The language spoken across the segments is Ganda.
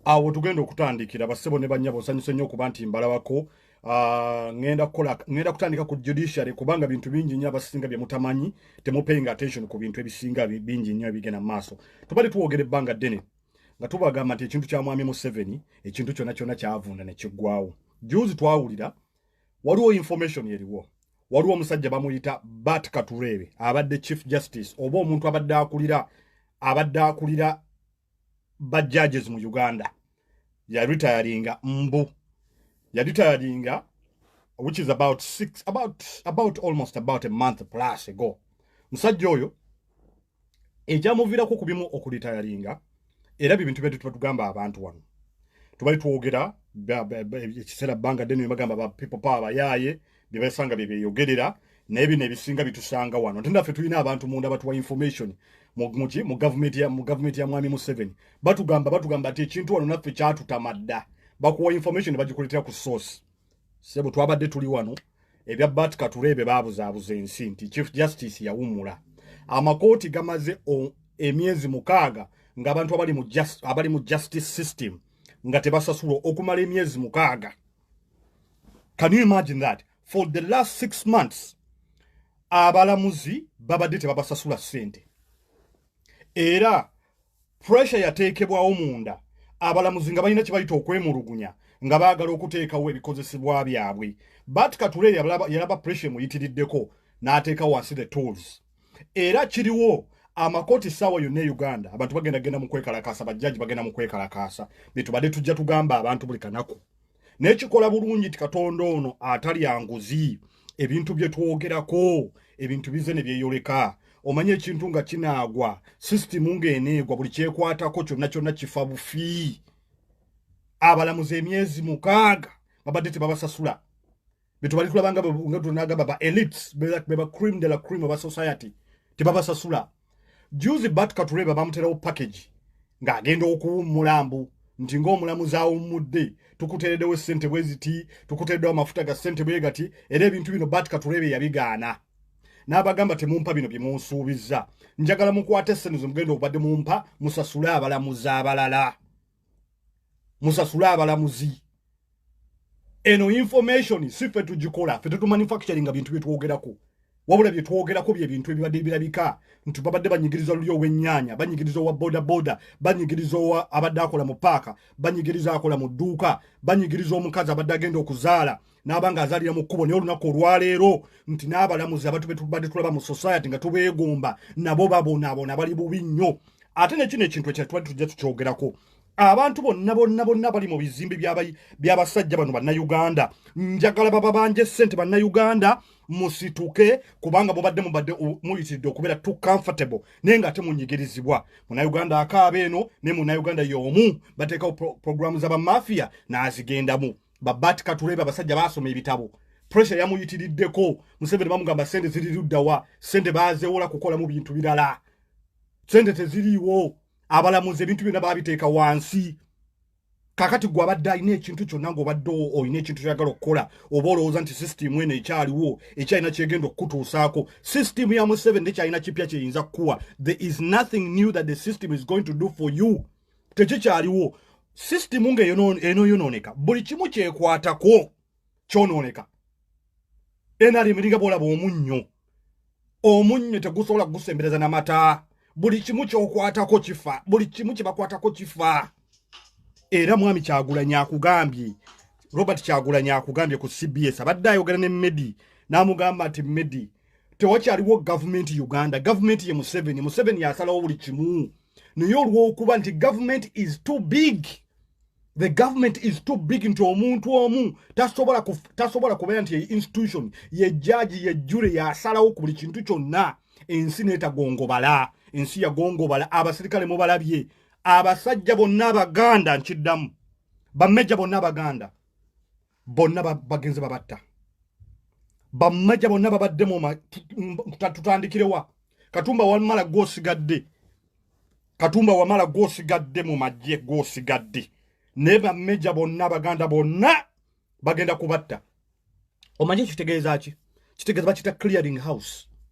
awo tugenda okutandikira basebo ne banyabo osanyuse nnyo okuba nti mbalabako ah, ngenda kukola ngenda kutandika ku judiciary kubanga bintu bingi nnyo abasinga bye mutamanyi temupayinga attention ku bintu ebisinga bingi nnyo ebigenda mu maaso tubadde tuwogera ebbanga ddene nga tubagamba nti ekintu kya mwami museveni ekintu kyonna kyonna kyavunda ne kiggwawo juzi twawulira waliwo information eriwo waliwo omusajja bamuyita bat katureebe abadde chief justice oba omuntu abadde akulira abadde akulira ba judges mu uganda yaritayaringa mbu yaritayaringa which is about six about about almost about a month plus ago musajja oyo ekyamuviirako ku bimu okulitayalinga era bibintu byatu tuba tugamba abantu wano tubali twogera ekiseera bbanga ddene nebagamba ba people power bayaaye byebasanga byebeyogerera naye bino ebisinga bitusanga wano ate naffe tulina abantu munda batuwa information muki mu gavumenti ya mwami museveni batugamba batugamba ti ekintu wano naffe kyatutamadda bakuwa information nebagikuletera ku source sebo twabadde tuli wano ebya bat kature ebyo babuzaabuza ensi nti chief justice yawummula amakooti gamaze emyezi mukaaga nga abantu abali mu just, abali mu justice system nga tebasasulwa okumala emyezi mukaaga can you imagine that for the last six months abalamuzi babadde tebabasasula sente era pressure yateekebwawo munda abalamuzi nga balina kibayita okwemulugunya nga baagala okuteekawo ebikozesebwa byabwe bat kature yalaba pressure emuyitiriddeko n'ateeka wansi the tools era kiriwo amakooti saawa yonna e uganda abantu bagenda genda mu kwekalakaasa bajjaji bagenda mu kwekalakaasa betubadde tujja tugamba abantu buli kanaku naye kikola bulungi nti katonda ono atalya nguzi ebintu bye twogerako ebintu bize ne byeyoleka omanyi ekintu nga kinaagwa sisitimu ng'eneegwa buli kyekwatako kyonna kyonna kifa bufi abalamuzi emyezi mukaaga babadde tebabasasula betubali tulaba nga nga tunagamba ba elites bela beba cream de la cream of society tibaba sasula juzi bat katureba bamutera package nga agenda okuwummula mbu nti ng'omulamuzi awummudde tukuteeredewo essente bwe ziti tukuteeredewo amafuta ga ssente bwe gati era ebintu bino bat katurebe yabigaana n'abagamba temumpa bino bye munsuubizza njagala mukwate essene ze mugenda obadde mumpa musasule abalamuzi abalala musasule abalamuzi eno information si ffe tugikola ffe tetumanufacturing nga bintu byetwogerako wabula byetwogerako byebintu ebibadde birabika nti babadde banyigiriza luli owenyanya banyigiriza owa bodaboda banyigiriza owa abadde akola mu paaka banyigiriza akola mu dduuka banyigiriza omukazi abadde agenda okuzaala n'aba ng'azaalira mu kkubo naye olunaku olwaleero nti n'abalamuzi abatu betubadde tulaba mu society nga tubeegomba nabo babonaabona bali bubi nnyo ate nekino ekintu ekya tubadde tujja tukyogerako abantu bonna bonna bonna bali mu bizimbe by'abasajja bano bannayuganda njagala baba banje ssente bannayuganda musituke kubanga mubadde mubadde muyitiridde okubeera to comfortable naye nga ate munyigirizibwa munayuganda akaaba eno naye munayuganda y'omu bateekawo programu z'abamafiya n'azigendamu babati katurebe abasajja basoma ebitabo pressure yamuyitiriddeko museveni bamugamba sente ziri luddawa sente bazewola kukolamu bintu birala sente teziriiwo abalamuzi ebintu byonna babiteeka wansi kakati gwe abadde alina ekintu kyonna ngaobadde olina ekintu kyagala okukola oba olowooza nti sisitimu eno ekyaliwo ekyalina kyegenda okukutuusaako sisitimu ya museveni nekyalina kipya kyeyinza kukuwa there is nothing new that the system is going to do for you tekikyaliwo sisitimu nga enoyonooneka buli kimu kyekwatako kyonooneka nrm eringa bwolaba omunnyo omunnyo tegusobola kugusembereza na mata buli kimu kyokwatako kifa buli kimu kyebakwatako kifa era mwami kyagulanya akugambye robert kyagulanya akugambye ku cbs abadde ayogera ne medi n'amugamba nti medi tewakyaliwo gavumenti uganda gavumenti ye museveni museveni yasalawo buli kimu naye olwokuba nti government is too big the government is too big nti omuntu omu tasobola tasobola kubeera nti institution ye jaji ye jure yasalawo ku buli kintu kyonna ensi netagongobala ensi yagongobala abasirikale mubalabye abasajja bonna abaganda nkiddamu bameja bonna abaganda bonna bagenze babatta bammaja bonna babadde mutatutandikirewaa katumba wamala gwosigadde katumba wamala gwosigadde mu magye gwosigadde naye bameja bonna abaganda bonna bagenda kubatta omanyi ekyo kitegeeza ki kitegeeza bakita clearing house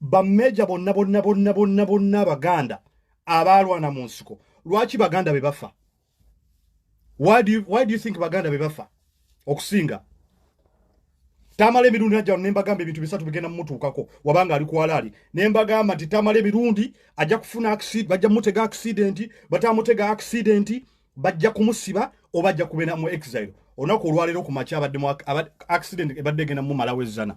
bameja bonna bonna bonna bonna bonna abaganda abaalwana mu nsiko lwaki baganda be bafa why do you, why do you think baganda be bafa okusinga tamala emirundi najja ne mbagamba ebintu bisatu bigenda mumutuukako wabanga ali kwalaali ne mbagamba nti tamala emirundi ajja kufuna accident bajja mutega accident batamutega accident bajja kumusiba oba ajja kubeera mu exile olunaku olwaleero ku makya abadde accident ebadde egenda mumalawo ezzana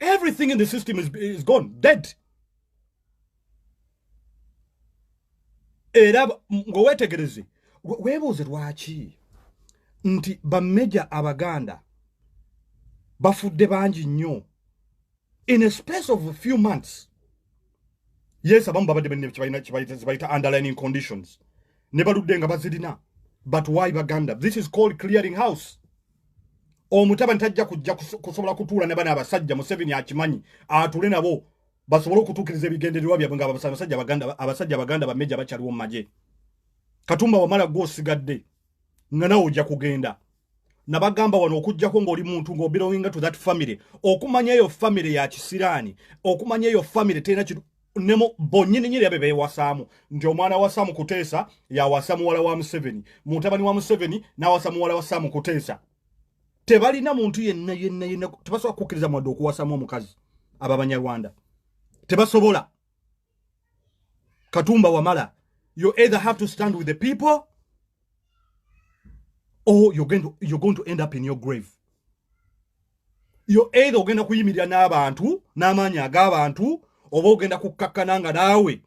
Everything in the system is, is gone, dead. era ng'oweetegereze weebuuze lwaki nti bameja abaganda bafudde bangi nnyo in a space of a few months yes abamu babadde bekibayita underlining conditions ne baludde nga bazirina but why baganda this is called clearing house omutabani tajja kujja kusobola kutuula ne bana abasajja museveni akimanyi atule nabo basobole okutuukiriza ebigendererwa byabwe ngaabasajja abaganda bameja bakyaliwo mu magye katumba wamala gwe osigadde nga nawe ojja kugenda nabagamba wano okujjako ngaoli muntu ngaobelonginga to that family okumanya eyo family ya kisiraani okumanya eyo family terina nemu bonyini nyiri abe bewasamu nti omwana wa Sam Kutesa ya wasamu wala wa Museveni mutabani wa Museveni na wasamu wala wa Sam Kutesa tebalina muntu yenna yenna yenna tebasobola kukiriza mwado okuwasamu omukazi ababanya Rwanda tebasobola katumba wamala you either have to stand with the people or you're going to, you're going to end up in your grave yo either ogenda kuyimirira n'abantu n'amaanyi ag'abantu oba ogenda kukkakkana nga naawe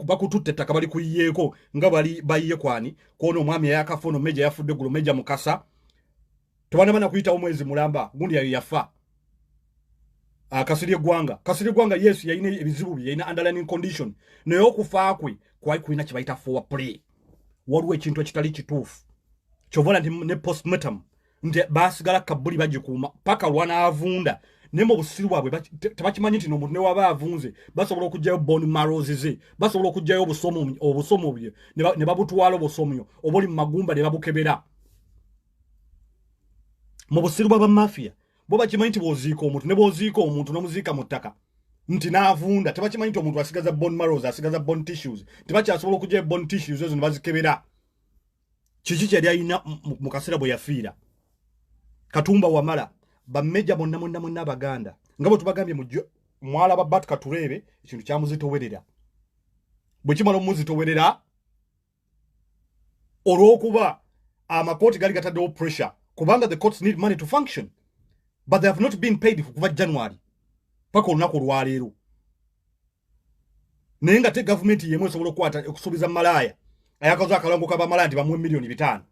bakututte ettaka bali kuyiyeeko nga bali bayiye kwani kwona omwami eyakafa ono meja yafudde gulu meja mukasa tebanaba nakuyitawo mwezi mulamba gundi yayo yafa ah, kasiri eggwanga kasiri eggwanga yes yalina ebizibu bye yalina underlining condition naye okufa kwe kwali kulina kye bayita fowa play waliwo ekintu ekitali kituufu kyova nti ne postmatam nti basigala kabuli bagikuuma paka lwanaavunda naye mu busiru bwabwe tebakimanyi nti nomuntu newaba avunze basobola okugyayo bon maros ze basobola okugyayo obusomo bye ne babutwala obusomyo oba oli mu magumba ne babukebera mu busiru bwa bamafiya bo bakimanyi nti bwoziika omuntu ne bwoziika omuntu nomuziika mu ttaka nti naavunda tebakimanyi nti omuntu asigaza bon maros asigaza bon tissues tebakyasobola okugyayo bon tissues ezo ne bazikebera kiki kyeyali alina mu kaseera bwe yafiira katumba wamala bameja bonna monna monna abaganda nga bwe tubagambye mwala ba bat katureebe ekintu kyamuzitowerera bwe kimala omuzitowerera olw'okuba amakooti gali gataddewo pressure kubanga the courts need money to function but they have not been paid kuva january paka olunaku olwaleero naye nga te gavumenti yemu esobola okukwata okusuubiza malaaya ayakaza akalongo ka bamalaaya nti bamuwe miliyoni bitaano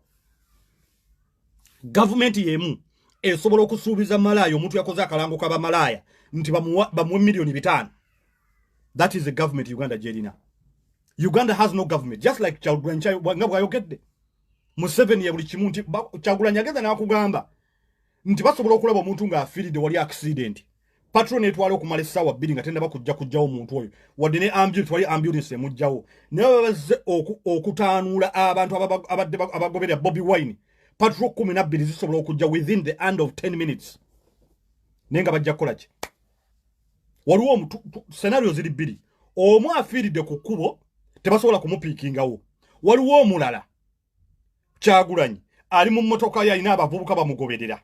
gavumenti yemu esobola okusuubiza malaaya omuntu yakoze akalango ka bamalaaya nti bamuwe miliyoni bitaano that is the government uganda gyerina uganda has no government just like kyagulanyi nga bwayogedde museveni ya buli kimu nti kyagulanyi agenda nakugamba nti basobola okulaba omuntu ng'afiiridde wali akisidenti patro netwala okumala essaawa bbiri nga tendaba kujja kujjawo omuntu oyo wadde ne ambulance wali ambulance emujjawo naye babazze okutaanuula abantu abadde abagoberera bobi wine patro kumi nabbiri zisobola okujja within the end of 10 minutes naye nga bajja kukola ki waliwo omutu senario ziri bbiri omu afiiridde ku kkubo tebasobola kumupiikingawo waliwo omulala kyagulanyi ali mu mmotoka yo alina abavubuka bamugoberera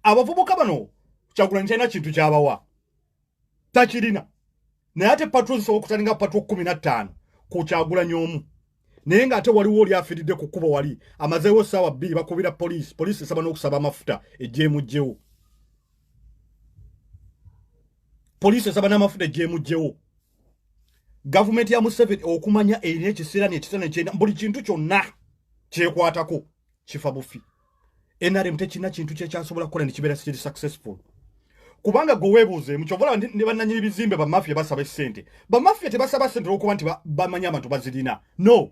abavubuka bano kyagulanyi talina kintu kyabawa takirina naye ate patro zisobola okutalinga patro kumi na ttaano ku kyagulanyi omu naye ng'ate waliwo oli afiiridde ku kkubo wali amazeewo essaawa bbiri bakubira poliisi poliisi esaba n'okusaba amafuta egyemugyewo poliisi esaba n'amafuta egyemugyewo gavumenti ya museveni okumanya erina ekiseera nekiseera nekyenda buli kintu kyonna kyekwatako kifa bufi nrm tekirina kintu kyekyasobola kukola nekibeera kiri successful kubanga gwe weebuuzeemu kyobola ne bannanyini bizimbe bamafia basaba esente bamafia tebasaba sente olwokuba nti bamanya abantu bazirina no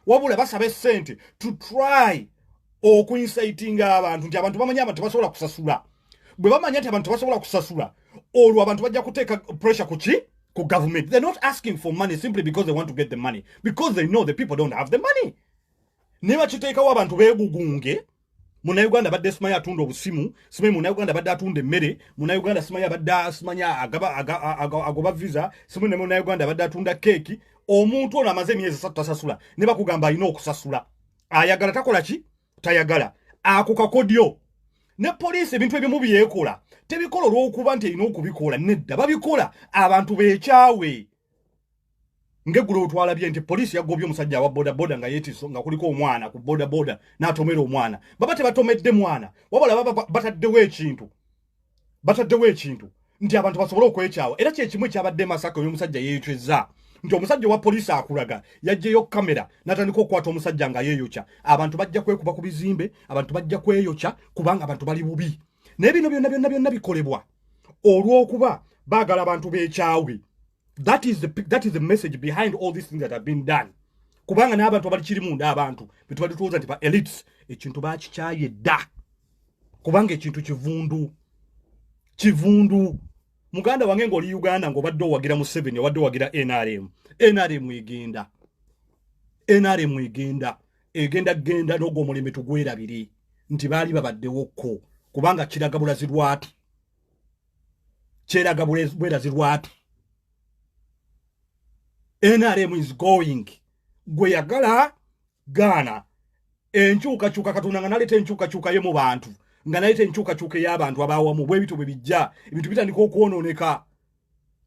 wabula basaba esente to try okuinsaitinga abantu nti abantu bamanya abantu tebasobola kusasula bwe bamanya nti abantu tebasobola kusasula olwo abantu bajja kuteeka pressure ku ki ku government they're not asking for money simply because they want to get the money because they know the people don't have the money naye bakiteekawo abantu beegugunge munauganda badde simanyi atunda obusimu simanyi munauganda badde atunda emmere munauganda simanyi abadde simanyi agoba visa simanyi ne munauganda badde atunda keeki omuntu ono amaze emyezi esatu tasasula ne bakugamba alina okusasula ayagala takola ki tayagala ako kakodyo ne poliisi ebintu ebimu byekola tebikola olw'okuba nti erina okubikola nedda babikola abantu bekyawe ngeggulo otwalabye nti poliisi yagobye omusajja awa bodaboda nga yetiso nga kuliko omwana ku bodaboda n'atomera omwana baba tebatomedde mwana wabula baba bataddewo ekintu bataddewo ekintu nti abantu basobole okwekyawa era kyekimu ekyabadde masaka oyo omusajja yeecweza nti omusajja owa poliisi akulaga yajjeyo kamera natandika okukwata omusajja nga yeeyokya abantu bajja kwekuba ku bizimbe abantu bajja kweyokya kubanga abantu bali bubi naye bino byonna byonna byonna bikolebwa olw'okuba baagala abantu beekyawe that is the that is the message behind all these things that have been done kubanga n'abantu abali kiri munda abantu betubadde tuwooza nti ba elites ekintu bakikyaye dda kubanga ekintu kivundu kivundu muganda wange ng'oli uganda ng'obadde owagira museveni obadde owagira nrm nrm egenda nrm egenda egenda genda n'ogwo omulembe tugwerabire nti baali babaddewo kko kubanga kiraga bulazi lwatu kyeraga bwerazi lwatu nrm is going gwe yagala gaana enkyukakyuka katonda nga naleeta enkyukakyuka ye mu bantu nga naleeta enkyukakyuka ey'abantu abaawamu bwebityo bwe bijja ebintu bitandika okwonooneka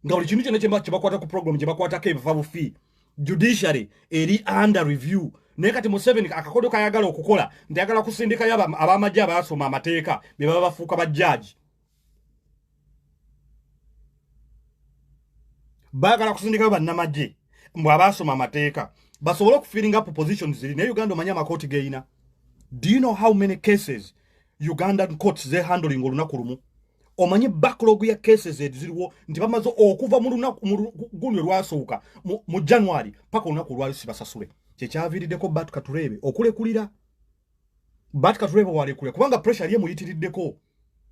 nga buli kintu kyona kyemba kyebakwata ku program gyebakwatako ebiva bufi judiciary eri under review naye kati museveni akakodo kayagala okukola nti ayagala kusindikayo abamajje abaasoma amateeka bebaba bafuuka bajjaaji bagala kusindikayo bannamagye mbu abaasoma amateeka basobole okufiringa up position ziri naye uganda omanye amakooti geyina do you know how many cases ugandan courts zehandling olunaku lumu omanyi backlog ya cases eziriwo nti bamaze okuva mu lunaku guno lwasooka mu january paka olunaku olwali sibasasule kyekyaviiriddeko bat katureebe okulekulira bat katureebe walekulira kubanga pressure ye muyitiriddeko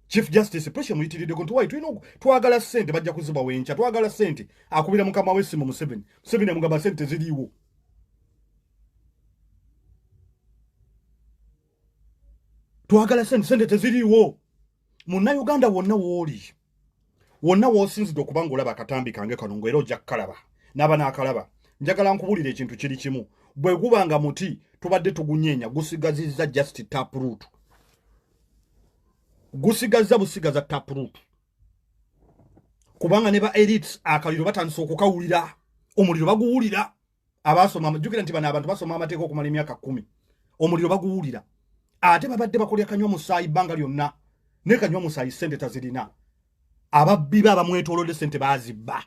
chief justice pressure muyitiriddeko nti wayi tulina twagala sente bajja kuziba wenkya twagala sente akubira mukama wesimu museveni museveni amugamba sente ziriiwo twagala sente sente teziriiwo munnayuganda wonna wooli wonna woosinzidde okuba nga olaba akatambi kange kano ngaera ojja kukalaba n'aba n'akalaba njagala nkubulira ekintu kiri kimu bwe guba nga muti tubadde tugunyeenya gusigazizza just taproot gusigazza busigaza taproot kubanga ne ba elites akaliro batandise okukawulira omuliro baguwulira abasoma jukira nti bana abantu basoma amateeka okumala emyaka kumi omuliro baguwulira ate babadde bakolya kanywa musaayi bbanga lyonna ne kanywa musaayi sente tazirina ababbi ba bamwetolodde sente bazibba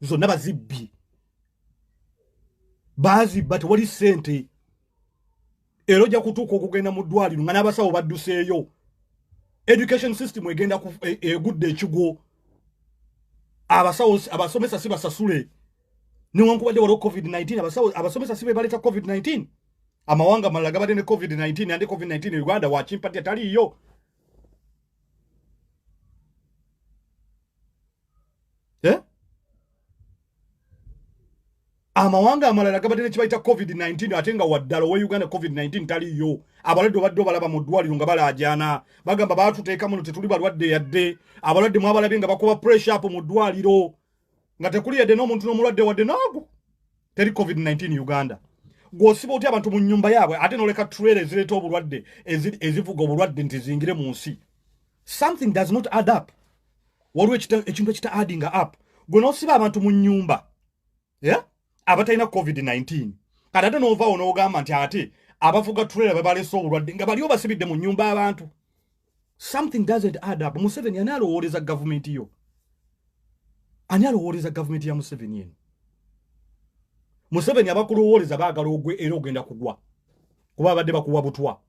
zonna bazibbi bazibba tewali sente era ojja kutuuka okugenda mu ddwaliro nga n'abasawo badduseeyo education system egenda e, egudde ekigwo abasawo abasomesa si basasule newankubadde waliwo covid-19 abasawo abasomesa si bebaleeta covid-19 amawanga malala gabadde ne covid-19 ande covid-19 e uganda wakimpati ataliiyo eh? amawanga amalala gabadde nekibayita covid-19 ate nga waddala owe uganda covid-19 taliyo abalwadde obadde obalaba mu ddwaliro nga balaajana bagamba batuteeka muno tetuli balwadde yadde abalwadde mwabalabye nga bakuba pressure up mu ddwaliro nga tekuli yadde n'omuntu n'omulwadde wadde naagu teri covid 19 uganda gwosiba otya abantu mu nyumba yaabwe ate noleka trailer ezireeta obulwadde ezivuga obulwadde nti zingire mu nsi something does not add up waliwo ekintu ekita adding up gwe nosiba abantu mu nyumba yeah? abatalina covid-19 kati ate novaawo nogamba nti ate abavuga trailer babalese obulwadde nga baliwo basibidde mu nyumba abantu something doesn't add up museveni ani alowooleza gavumenti yo ani alowooleza gavumenti ya museveni eno museveni abakulowooleza baagala ogwe era ogenda kugwa kuba abadde bakuwa butwa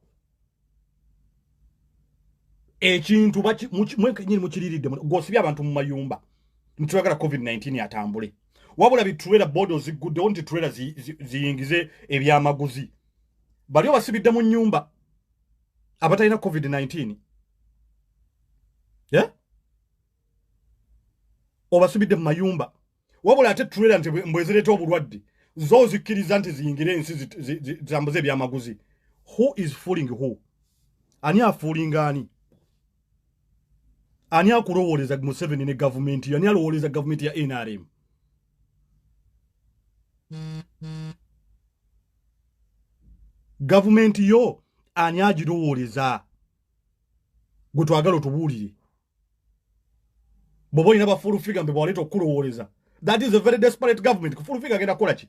ekintu mwekenyini mukiriridde gwosibye abantu mu mayumba nitwagala covid-19 atambule wabula biturera bodo ziguddewo nti turera ziyingize ebyamaguzi bali obasibidde mu nyumba abatalina covid-19 yeah? obasibidde mu mayumba wabula ate trailer nti mbwezireeta obulwadde zo zikkiriza nti ziyingire ensi zambuze ebyamaguzi who is fooling who ani afuulinga ani ani akulowooleza museveni ne gavumenti yo ani alowooleza gavumenti ya nrm gavumenti yo ani agirowooleza gwe twagala otubuulire bwoba olina bafulufiga mbe bwaleeta okukulowooleza that is a very desperate government kufulufiga agenda kukola ki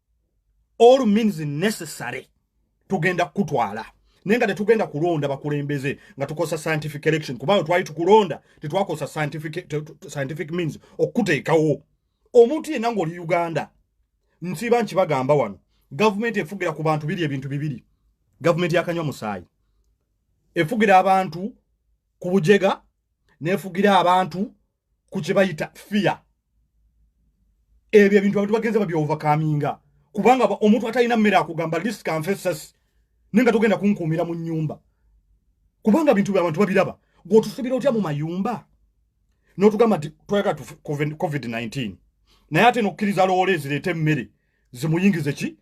all means necessary tugenda kukutwala naye nga tetugenda kulonda bakulembeze nga tukosa scientific election kubanga twali tukulonda tetwakosa scientific, scientific means okukuteekawo omuntu yenna ngaoli uganda nsiiba nkibagamba wano gavumenti efugira ku bantu biri ebintu bibiri gavumenti yakanywa musaayi efugira abantu ku bujega nefugira abantu ku kye bayita fiya ebyo ebintu abantu bagenze babyovakaminga kubanga omuntu atalina mmere akugamba list kanfesasi naye nga togenda kunkuumira mu nnyumba kubanga bintu byabantu babiraba gweotusibira otya mu mayumba notugamba nti twayagala covid-19 naye ate nokukkiriza loola ezireeta emmere zimuyingize ki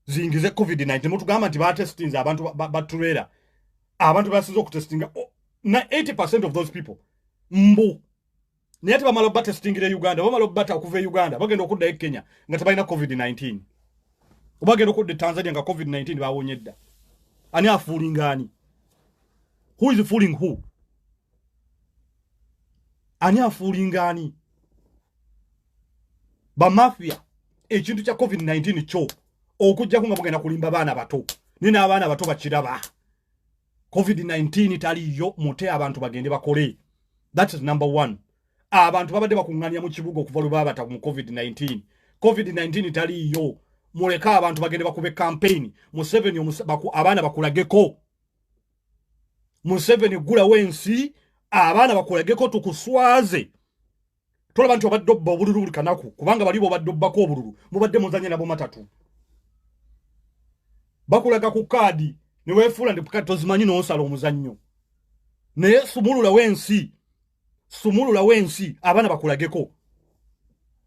zingize covid 19 temutugamba nti batestinze abantu batulera ba, ba abantu basinza okutestinga oh, na 80 percent of those people mbu naye ate bamala obatestingira e uganda bamala obata okuva e uganda bagenda okudda e kenya nga tebalina covid 19 obagenda okudda e tanzania nga covid 19 bawonye dda ani afuulinga ani who is fooling who ani afuulinga ani bamafia ekintu kya covid-19 kyo okujjako nga mugenda kulimba baana bato naye n'abaana bato bakiraba covid-19 taliyo mute abantu bagende bakole that is number one abantu babadde bakuŋŋanya mu kibuga okuva lwe babata mu covid-19 covid-19 taliyo muleke abantu bagende bakube kampeyini museveni abaana bakulageko museveni gulawo ensi abaana bakulageko tukuswaze tolaba nti obadde obba obululu buli kanaku kubanga bali bobadde obbako obululu mubadde muzanye nabo matatu bakulaga ku kaadi newefuula nti kati tozimanyi nonsala omuzannyo naye sumulula wensi sumulula wensi abaana bakulageko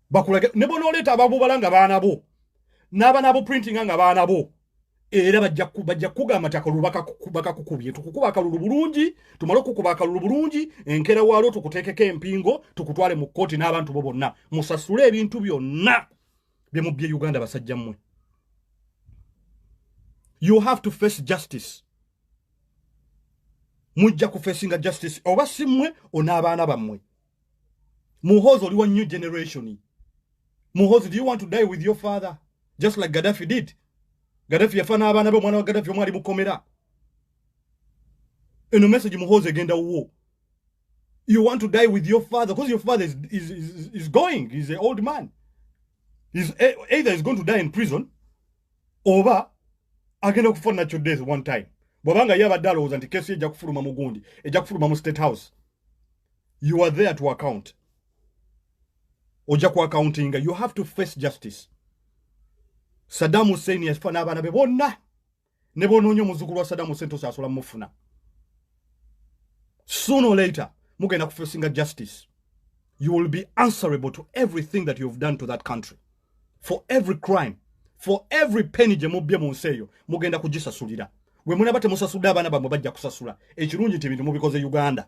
bakulage ne bonoleeta ababubalanga baana bo n'abaana bo printinga nga baana bo era bajja kukuga amataka lubakakukubye tukukuba akalulu bulungi tumale okukuba akalulu bulungi enkera waalwo tukuteekeko empingo tukutwale mu kkooti n'abantu bo bonna musasule ebintu byonna bye mu bye uganda basajja mmwe you have to face justice mujja kufesinga justice oba si mmwe on'abaana bammwe muhozi oli wa new generation muhozi do you want to die with your father just like gaddafi did gaddafi yafa n'abaana be omwana wa gaddafi omwali mukomera eno message muhozi egenda wuwo you want to die with your father because your father is, is, is, is going is an old man is e, either is going to die in prison oba agenda kufa nakyo death one time bwabanga ye abadde alowooza nti kesi ejja kufuluma mugundi ejja kufuluma mu state house you are there to account oja ku accounting you have to face justice saddam hussein yafa n'abaana be bonna ne bonoonya omuzukulu wa saddam hussein tosasula mufuna sooner or later mugenda kufesinga justice you will be answerable to everything that you have done to that country for every crime for every penny gye mubbye mu nsi eyo mugenda kugisasulira gwe munaba temusasudde abaana bamwe bajja kusasula ekirungi nti ebintu mubikoze uganda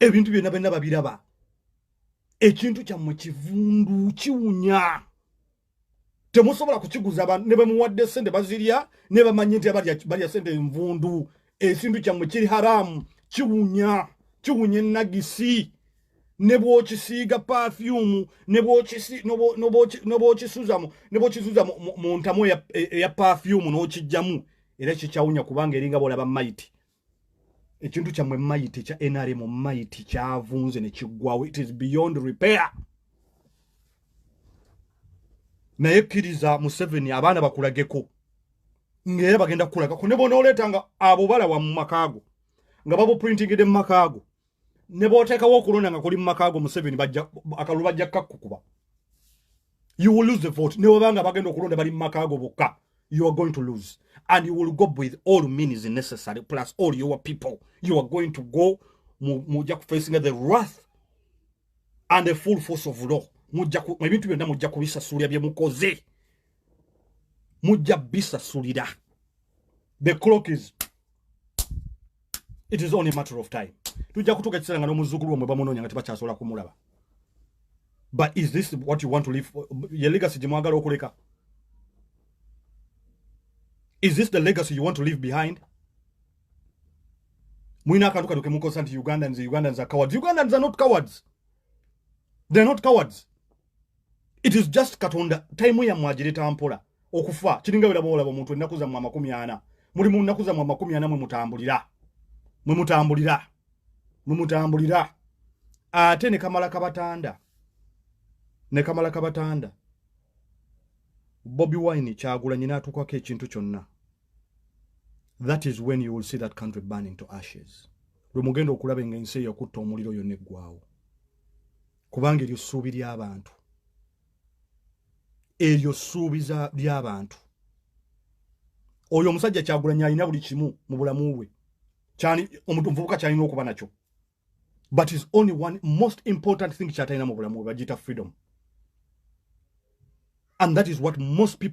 ebintu byonna balina babiraba ekintu kyammwe kivundu kiwunya temusobola kukiguza ne bamuwadde sente bazirya ne bamanye nti balya sente envundu ekintu kyammwe kiri haramu kiwunya kiwunya enagisi ne bwokisiiga pafyumu nobwokisuzamu nebwokisuza mu ntamu eya pafyumu n'okijjamu era kikyawunya kubanga eringa bolaba maiti ekintu kyammwe mayiti kya nrm mayiti kyavunze ne kiggwawo it is beyond repair naye kkiriza museveni abaana bakulageko ngaera bagenda kukulagako ne bona oleeta nga abo balawa mu makaago nga babuprintingide mu makaago ne bw'oteekawo okulonda nga kuli mu maka ago museveni akalulu bajja kukakkukuba you will lose the vote ne bweba nga bagenda okulonda bali mu maka ago bokka you are going to lose and you will go with all means necessary plus all your people you are going to go mujja kufacinga the wrath and the full force of law ebintu byonna mujja kubisasulira bye mukoze mujja bisasulira the clock is it is only a matter of time tujja kutuuka ekiseera nga n'omuzzukulu omwe bamunoonya nga tebakyasobola kumulaba but is this what you want to live ye legacy gye mwagala okuleka is this the legacy you want to leave behind mulina akantu kano kemukozesa nti ugandans ugandans are cowards ugandans are not cowards they're not cowards it is just katonda time ya mwajire tampora okufa kiringa wela bola bo muntu enakuza mwa makumi ana muri mu nakuza mwa makumi ana mwe mutambulira mwe mutambulira mwe mutambulira ate ne kamala kabatanda ne kamala kabatanda bobi wine kyagula nyina atukwa ke kintu kyonna that is when you will see that country burning to ashes lwe mugenda okulaba engenseyo kutta omuliro yo ne gwawo kubanga eryo ssuubi ly'abantu eryo ssuubi ly'abantu oyo omusajja kyagulanyi alina buli kimu mu bulamu bwe omuvubuka kyalina okuba nakyo but is only one most important thing kyatalina mu bulamu bwe bagiyita freedom and that is what most people